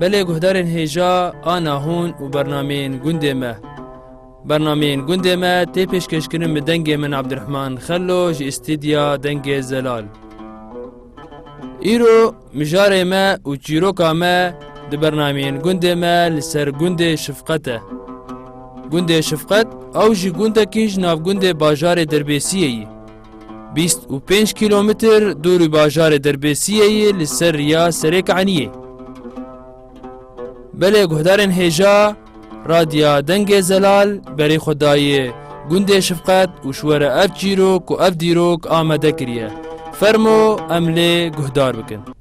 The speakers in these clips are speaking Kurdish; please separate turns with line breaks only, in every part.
Belê guhdarên hêja a nahûn û bernameyên gundê me. Bernameyên gundê me tê pêşkêşkirin bi dengê min Abdirehman Xello ji Îstîdya Dengê Zelal. Îro mijarê me û çîroka me di bernameyên gundê me li ser gundê Şifqet e. Gundê Şifqet ew jî gundekî ji navgundê bajarê Derbêsiyê yî. Bîst û pênc kîlometr dûrî bajarê Derbêsiyê yê li ser riya Serêk Eniyê. Belê guhdarên hêja Radya Dengê Zelal berê xwe dayê gundê Şifqet û ji we re ev çîrok û ev dîrok amade kiriye. Fermo em lê guhdar bikin.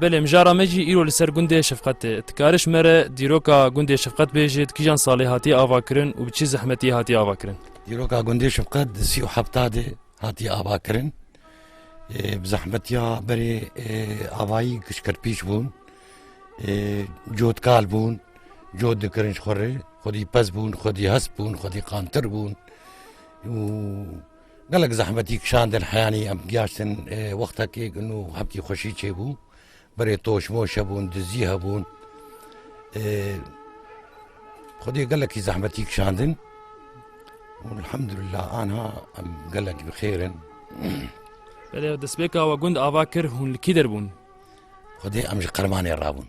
Belê
mijara me jî îro li ser gundê şefqet tê. Ti kariş me re dîroka gundê şefqet bêjî di kîjan salê hatiye avakirin û bi çi zehmetiyê hatiye avakirin? Dîroka gundê
şefqet di sî û hefta de hatiye avakirin. Bi zehmetiya berê avayî kişkirpîş bûn. Cotkal bûn, cot dikirin ji xwe re. Xwedî pez bûn, xwedî hest bûn, xwedî qantir bûn û Gelek zehmetî kişandin heyanî em giyaştin wextekê ku nû heptî xweşî çêbû. Berê toşmoş hebûn, dizî hebûn. Xwedê gelekî zehmetî kişandin. Elhamdülillah anha em gelek bi xêr in.
Belê destpêka we gund ava kir hûn li kî derbûn? Xwedê em
ji qermanê rabûn.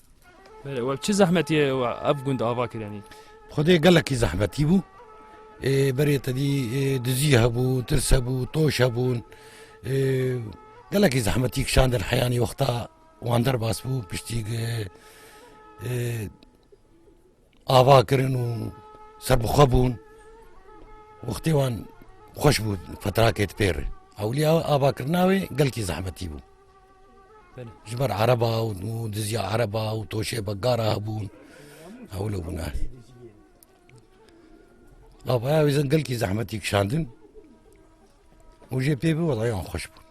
Belê we
çi zehmetiye ev gund ava kirenî? Xwedê gelekî
zehmetî bû. Berê te dî dizî hebû, tirs hebû, toş hebûn. Gelekî zehmetî kişandin heyanî wexta wan derbas bû piştî Ava kirin û serbixwe bûn wextê wan xweş bû fetrakê di pêre. Ewliya avakirina wê gelkî zehmetî bû. Ji ber ereba û diziya ereba û toşê begara hebûn ewlo bûne. Avaya wê gelkî zehmetî kişandin û jê pê bi wedayan xweş bûn.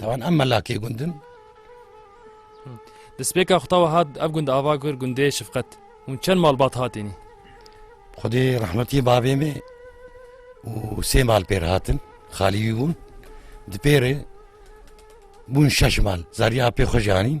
Tawan em melakê gund in.
Di spêka xwe tawa hat ev gund ava kir gundê şifqet hûn çend malbat hatînî. Xwedê
rehmetî bavê me û sê mal pêr hatin xalî wî bûn di pêrê bûn şeş mal zariya pê xwe janîn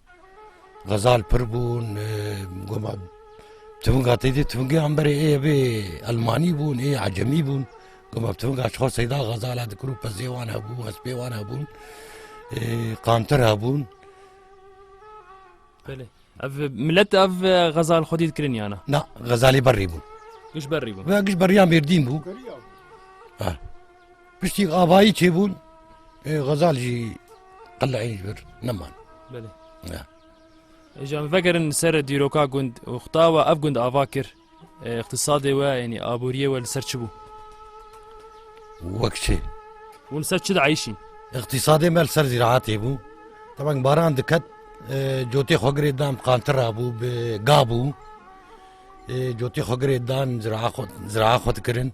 Xezal pir bûn goma tivinga tê dî tivingi amberê ê bê Elmanî bûn ê ecemî bûn goma tivinga çixwa seyda xezala dikir û pezê wan hebû hespê wan hebûn qantir hebûn
ev millet ev xezal xwedî dikirin yana na xezalî berî
bûn giş berî bûn
ve giş beriyan mêrdîn bû
Piştî avayî çêbûn xezal jî qileyê ji vir neman.
Ji em vegerin li ser dîroka gund û xuta we ev gund ava kir iqtisadê we yanî aboriyê we li ser çi bû? Wek
çi? Hûn li ser çi
diayîşîn? Iqtisadê me li
ser zîraatê bû. Teban baran diket cotê xwegirê dan qantira bû bi ga bû. Cotê xwegirê dan ziraxwe dikirin.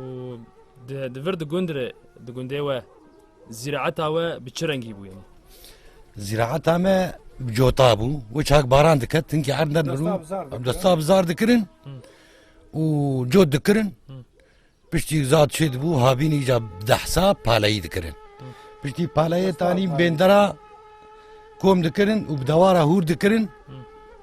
û di vir di gund re di gundê we zîraeta we bi çi rengî bûye? Zîraeta
me cota bû û çak baran diket hinkî erd nebirû desta bizar dikirin û cot dikirin piştî zat çê dibû havînî ca dehsa paleyî dikirin piştî paleyê tanî bêndera kom dikirin û bi dewara hûr dikirin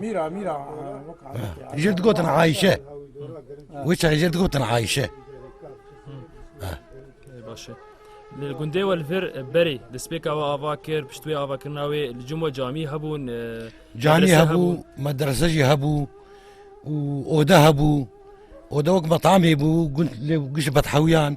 Mîra mîra Jir digotin Ayşe.
Wê çayê jir digotin Ayşe.
Başe. Li gundê we li vir berê despêka we ava kir pişt wê ava kirina wê li cim we camî hebûn Canî hebû
medrese jî hebû û oda hebû oda wek metamê bû gund lê giş bethawiyan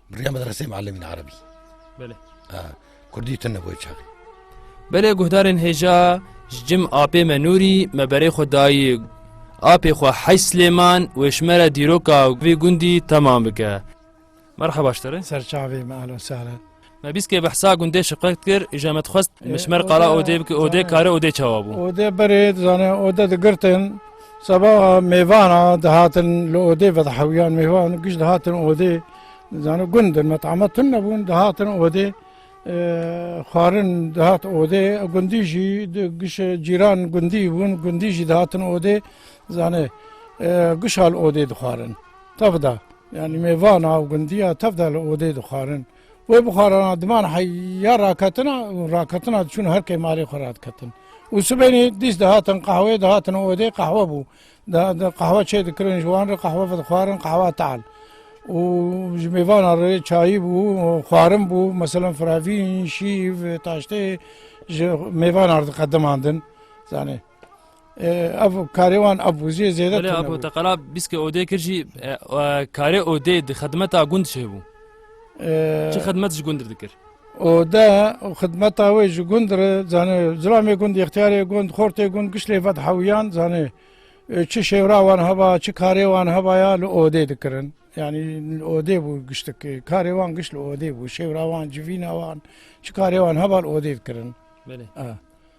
Riya medresê muallimîn erebî. Belê.
Ha, kurdî
tune bo çaxî. Belê
guhdarên hêja ji cim apê me nûrî me berê xwe dayî apê xwe hej Slêman wê ji me re dîroka vê gundî temam bike. Merhaba ji te re. Serçavê me ala
sare. Me bîskê behsa
gundê şiqet kir îja me dixwest mişmer qala odê bike odê kare odê çawa bû. Odê berê dizane
odê digirtin Seba mêvan a dihatin li odê vedihewiyan mêvan giş dihatin odê zano gundin metama tun nebûn dihatin odê xwarin dihat odê gundî jî giş cîran gundî bûn gundî jî dihatin odê zanê gişal odê dixwarin tevda yani mêvana û gundiya tevda li odê dixwarin Wê bixwarana diman heya raketina û raketina diçûn her kê malê xwe radiketin. Û sibênê dîs dihatin qehwê dihatin odê qehwe bû. Qehwe çê dikirin ji wan re qehwe vedixwarin qehwa tal. û ji mêvana re çayî bû xwarin bû meselan firavîn, şîv, taştê ji mêvanan diqedimandin zanê. ev karê wan ev wizê zêde Belê apo te qala
bîske odê kir jî karê odê di xidmeta gund çê bû. Çi xidmet ji gundir dikir? Ode
û xidmeta wê ji gundir zanê zilamê gund ixtiyarê gund xortê gund gişlê vet hewiyan zanê çi şêwra wan heba çi karê wan heba ya li odê dikirin. Yani li odê bû giştik karê wan giş li odê bû şêwra wan civîna wan çi karê wan heba li odê dikirin. Belê.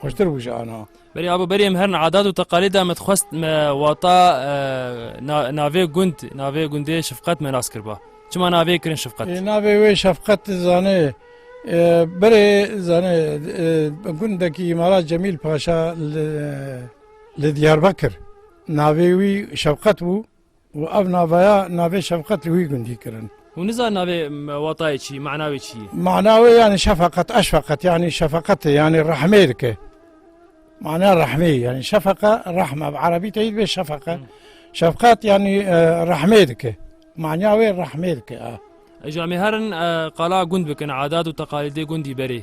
Xweştir bû ji ana.
Berê abo berê em herin adat û teqalîda me dixwest me wata navê gund navê gundê şefqet me nas kirba. Çima navê kirin şefqet? Navê wê şefqet
zanê berê zanê gundekî îmara Cemîl Paşa li Diyarbakir. Navê wî şefqet bû. û ev naveya navê şefqet li wî gundî kirin. Hûn nizan navê
watayê çi, mana wê çi ye? Mana wê yanî
şefeqet, eşfeqet yanî şefeqetê yanî rehmê dike. Mana rehmê yanî şefeqe rehm ev erebî teyî dibê şefeqe. Şefqet yanî e, rehmê dike. Mana wê rehmê dike. Eja me herin
e, qala gund bikin, adat û teqalîdê gundî berê.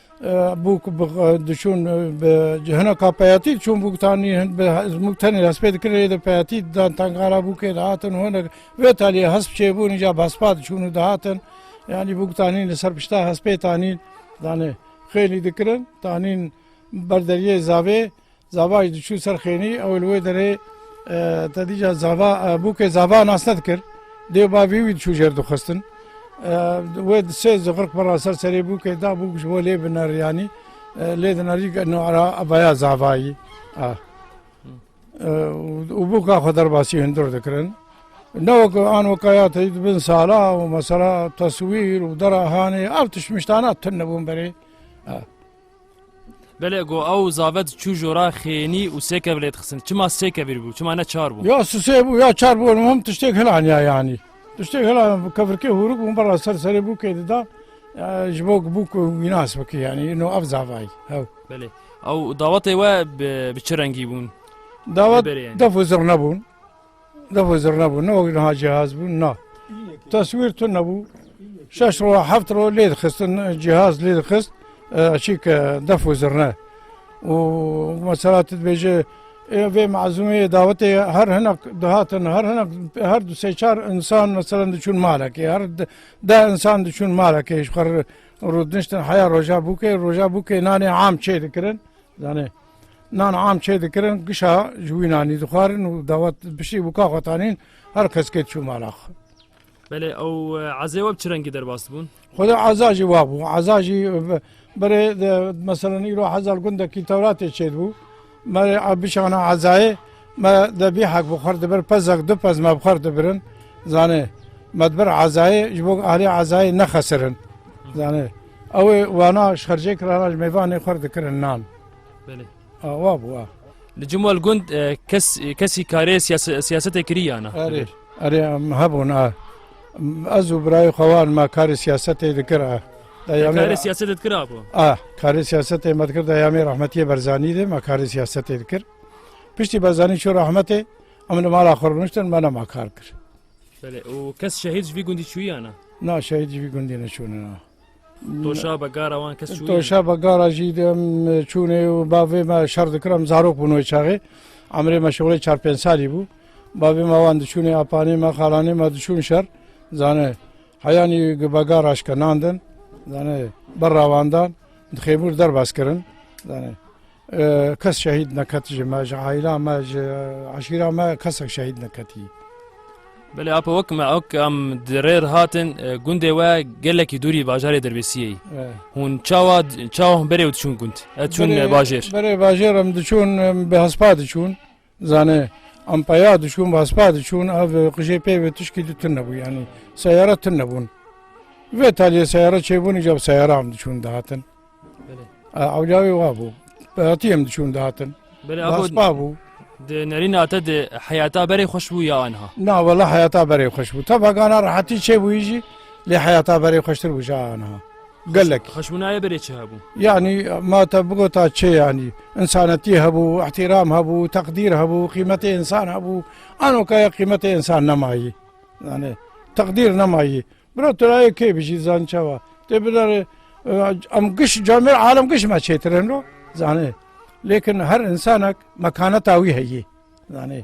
Bûk diçûn bi hina ka peyatî çûn bûk tanî bûk tenê hespê dikirin ê de peyatî dan tengara bûkê dihatin hinek vê talî hesp çêbûn îca bi hespa diçûn û dihatin yanî bûk tanî li ser pişta hespê tanî danê xêlî dikirin tanî ber deriyê zavê Zava jî diçû ser xênî ew li wê derê te dîca zava bûkê zava nas te dikir. Dêw bavî wî diçû jêr dixistin. Wê di sê ziqirq bira ser serê bûkê da bûk ji bo lê biner yanî lê dinerî nara vaya zavayî. Û bûka xwe derbasî hundir dikirin. Ne wek an wekaya te di bin sala û mesela teswîr û dera hanê ev tişt miştana tune bûn berê.
Belê go ew zavet çû jora xênî û sê kev lê dixistin. Çima sê kevîr bû, çima ne çar bû? Ya sisê bû ya çar
bû him tiştêk hilaniya yanî. Tiştêk hila kevirkê hûrik bûn bela ser serê bû kê didan ji bo bû ku wînas bikî yanî no ev zavayî hew. Belê. Ew
dawetê we bi çi rengî bûn? Dawet
def û zirna bûn. Devo zir nebû, ne wek niha cihaz bû na. Teswîr tun nebû. Şeş roj, heft roj lê dixistin, cihaz lê dixist çîke defo zirne. û mesela tu dibêje vê mezûmê dawetê her hinek dihatin her hinek her du sê çar insan mesela diçûn malekê her de insan diçûn malekê ji xwe rûdniştin heya roja bûkê roja bûkê nanê am çê dikirin zanê Nan am çê dikirin gişa ji wî nanî dixwarin û dawet bişî wika xwe tanîn her keske çû mala xwe. Belê
ew ezê we bi çi rengî derbas dibûn? Xwedê eza jî wa
bû eza jî berê meselen îro hezal gundekî tewratê çêdibû merê bişana ezayê me debî hek bi xwar dibir pezek du pez me bi xwar dibirin zanê me dibir ezayê ji bo alê ezayê nexesirin zanê ew ê wana şercê kirana ji mêvanê xwar dikirin nan.
Awa bû a.
Li Cemal
Gund kes kesî karê siyasetê kirî yana. Erê erê
hebûn a. Ez û birayê xewan me karê siyasetê dikir a. Karê siyasetê
dikir a bû. A karê siyasetê
me dikir da yamê rahmetiyê Berzanî de me karê siyasetê dikir. Piştî Berzanî çû rahmetê em li mala xwe rûniştin me nema kar kir. Belê û
kes şehîd ji vî gundî çûyana. Na şehîd ji vî gundî
neçûne na. Toşa
begara wan kes çûye. Toşa begara jî
dem çûnê û bavê me şer dikir em zarok bûn wê çaxê. Emirê me şixulê çar pênc salî bû. Bavê me wan diçûnê apanê me xalanê me diçûn şer. Zanê heyanî begara şke nan din. Zanê ber rawandan dixêbûr derbas kirin. Zanê Kes şehîd neket ji me, ji aîla me, ji eşîra me kesek şehîd neketî. Belê
apo wek me ok em di rê re hatin e, gundê we gelekî dûrî bajarê Derbêsiyê. Hûn çawa çawa hûn berê û diçûn gund. Ez çûn e, bajêr. Berê bajêr em
diçûn em bi hespa diçûn. Zane ampaya dişûn vaspa dişûn ev qijê pê ve tişkî di tun nebû yanî seyara tun nebûn. Vê taliyê seyara çêbûn îca bi seyara em dişûn dihatin. Ewla wê wa bû. Hatî em dişûn dihatin. Vaspa bû. Di nerîna
te di heyata berê xweş bû ya anha. Na wela heyata
berê xweş bû. Tevagana rehetî çêbûyî jî lê heyata berê xweştir bû ja anha. Gelek. Xeşminaye berê çi hebû?
Yani ma
te bigota çê yanî insanetî hebû, ihtiram hebû, teqdîr hebû, qîmetê insan hebû. Ano kaya qîmetê insan nemayî. Yani teqdîr nemayî. Bira turayê kê bijî zan çawa. Tê bidarê em giş camê alem giş me çêtireno. Zanê. Lêkin her insanek mekaneta wî heyî. Zanê.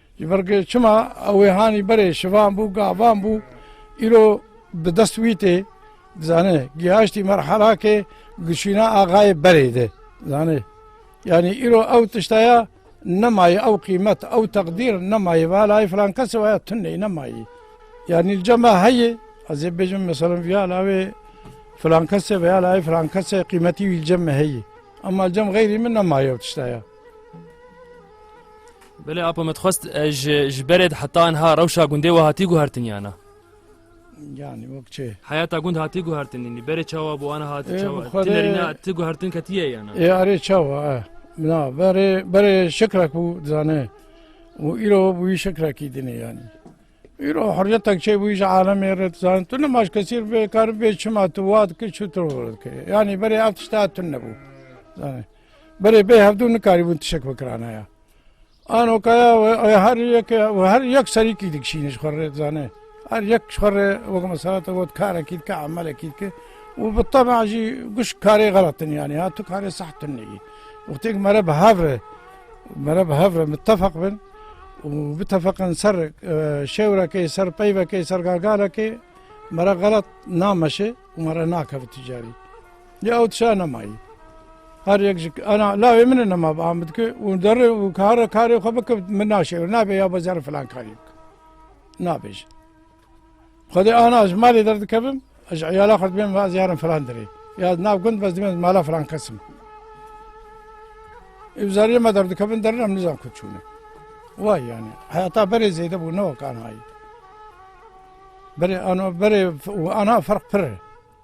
Ji ber ku çima ew ê hanî berê şivan bû, gavan bû, îro bi dest wî tê, zanê, gihaştî merhela ke gişîna axayê berê de, zanê. Yanî îro ew tişta ya nemayê, ew qîmet, ew teqdîr nemayê, va layê filan kesê waya tunê, nemayê. Yanî li cem me heye, ez ê bêjim meselem viya lawê filan kesê veya layê filan kesê qîmetî wî li cem me heye. Ema li cem xeyrî min nemayê ew tişta ya.
Belê apo me dixwest ji berê de heta niha rewşa gundê we hatî guhertin yana? Yani
wek çê. Heyata gund hatî
guhertinî berê çawa bû ana hatî çawa tinerîna ti
guhertin
ketiye yana. Ê arê çawa e
na berê berê şikrak bû dizane û îro bû wî şikrakî dinê yanî. Îro hurriyetek çê bû ji alemê re dizan tu ne maş kesîr bê kar bê çima tu wat ki çu tu dike. Yanî berê ev tişta tun nebû. Zanê. Berê bê hevdû nikarîbûn tişek bikiranaya. Anokaya we her yek we her yek serîkî dikişîne ji xwe rê dizane. Her yek ji xwe rê wek mesela te got karekî dike emelekî dike û bi tama jî guş karê xelatin yanî ha tu karê sehtin neyî. Wextêk mere bi hev re mere bi hev re mitefeq bin û bitefeqin ser şewrekê ser peyvekê ser gargarekê mere xelat nameşe û mere nakeve ticarî. Ya û tişa nemayî. Her yek ji ana lawê min e nema bi Amid ki û derê û kara karê xwe bike min naşêr nabe ya be zerre filan karî bike. Nabêje. Xwedê ana ji malê derdikevim ji îyala xwe dibêm ve ez yarim filan derê. Ya nav gund bez dibêm mala filan kesim. Ev zariyê me derdikevin derin em nizan ku çûne. Vay yani. Hayata berê zêde bû ne wek anayî. Berê ana berê û ana ferq pir e.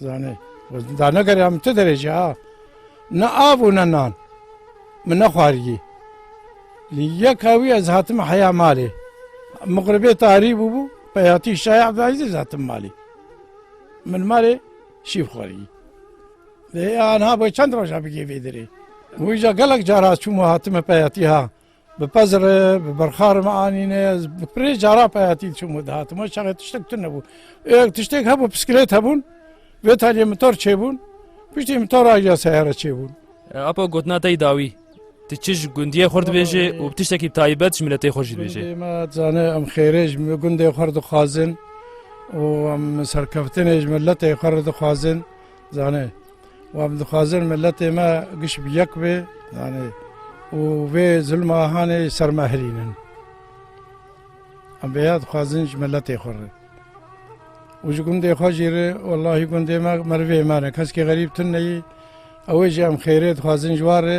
Zanê, da ne gerê min ti derece ha. Ne av û ne nan. Min nexwariyî. Lê yeka wî ez hatim heya malê. Miqribê tarî bûbû, peyatî şaya Ebdulazîz ez hatim malê. Min malê şîv xwariyî. Lê anha bo çend roja bigê vê derê. Wî ja gelek cara çûm û hatime peyatî ha. Bi pez re, bi berxa re me anîne. Ez bi pirê cara peyatî diçûm û dihatim. O çaxê tiştek tune bû. Êyek tiştek hebû piskilêt hebûn. Vê taliyê mitor çêbûn. Piştî mitor a ya seyare çêbûn. Apo gotina
te yî dawî. Tu çi ji gundiyê xwe dibêjê û bi tiştekî taybet ji miletê xwe jî dibêjê? Gundê me dizane em
xêrê ji gundê xwe re dixwazin û em serkeftinê ji miletê xwe re dixwazin. Zanê wan em dixwazin miletê me giş bi yek bê zanê û vê zilma hanê ser me hirînin. Em vêya dixwazin ji miletê xwe re. Û ji gundê xwe jî re wellahî gundê me merivê me ne. Keskî xerîb tune yî ew ê jî em xêrê dixwazin ji wan re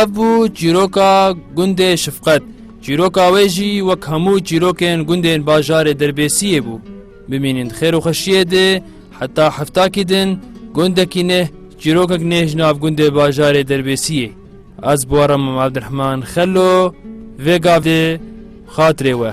Ev bû çîroka gundê Şifqet. Çîroka wê jî wek hemû çîrokên gundên bajarê Derbêsiyê bû. Bimînin di xêr û xweşiyê de heta heftakî din gundekî neh çîrokek neh ji nav gundê bajarê Derbêsiyê. Ez bi we re Mem Evdirehman Xelo vê gavê xatirê we.